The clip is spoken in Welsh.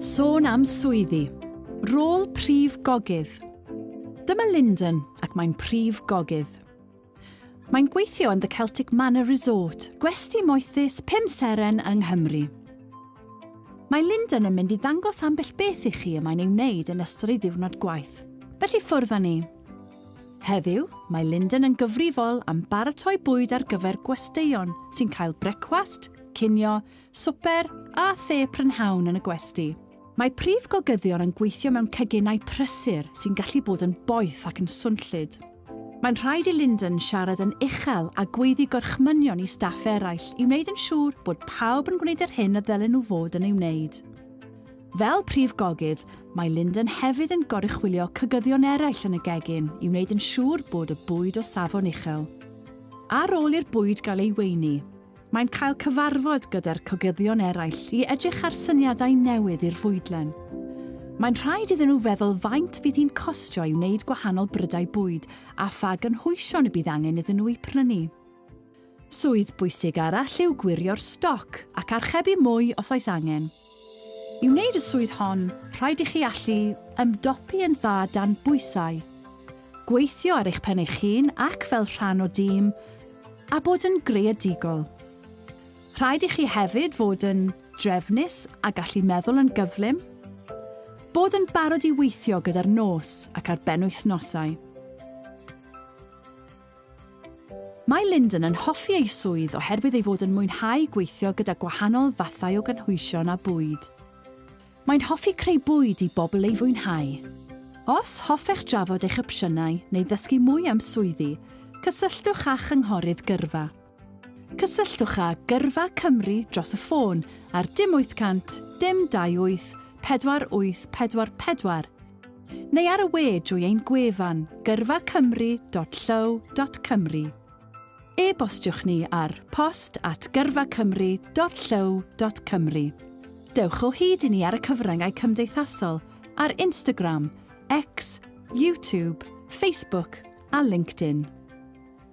Sôn am swyddi. Rôl prif gogydd. Dyma Lyndon ac mae'n prif gogydd. Mae'n gweithio yn The Celtic Manor Resort, gwesti moethus pum seren yng Nghymru. Mae Lyndon yn mynd i ddangos ambell beth i chi y mae'n ei wneud yn ystod ei ddiwrnod gwaith. Felly ffwrdd â ni. Heddiw, mae Lyndon yn gyfrifol am baratoi bwyd ar gyfer gwesteion sy'n cael brecwast, cinio, swper a the prynhawn yn y gwesty. Mae prif gogyddion yn gweithio mewn ceginau prysur sy'n gallu bod yn boeth ac yn swnllyd. Mae'n rhaid i Lyndon siarad yn uchel a gweiddi gorchmynion i staff eraill i wneud yn siŵr bod pawb yn gwneud yr hyn y ddylen nhw fod yn ei wneud. Fel prif gogydd, mae Lyndon hefyd yn goruchwylio cogyddion eraill yn y gegin i wneud yn siŵr bod y bwyd o safon uchel. Ar ôl i'r bwyd gael ei weini, Mae'n cael cyfarfod gyda'r cogyddion eraill i edrych ar syniadau newydd i'r fwydlen. Mae'n rhaid iddyn nhw feddwl faint fydd hi'n costio i wneud gwahanol brydau bwyd a pha gynhwysion y bydd angen iddyn nhw eu prynu. Swydd bwysig arall yw gwirio'r stoc ac archebu mwy os oes angen. I wneud y swydd hon, rhaid i chi allu ymdopi yn dda dan bwysau, gweithio ar eich pen eich hun ac fel rhan o dîm, a bod yn greadigol. Rhaid i chi hefyd fod yn drefnus a gallu meddwl yn gyflym, bod yn barod i weithio gyda'r nos ac ar benwythnosau. Mae Lyndon yn hoffi ei swydd oherwydd ei fod yn mwynhau gweithio gyda gwahanol fathau o gynhwysion a bwyd. Mae'n hoffi creu bwyd i bobl ei fwynhau. Os hoffech drafod eich opsiynau neu ddysgu mwy am swyddi, cysylltwch â chynghorydd gyrfa. Cysylltwch â Gyrfa Cymru dros y ffôn ar dim 800 dim 28 4844 neu ar y we drwy ein gwefan gyrfacymru.llyw.cymru. E-bostiwch ni ar post at gyrfacymru.llyw.cymru. Dewch o hyd i ni ar y cyfryngau cymdeithasol ar Instagram, X, YouTube, Facebook a LinkedIn.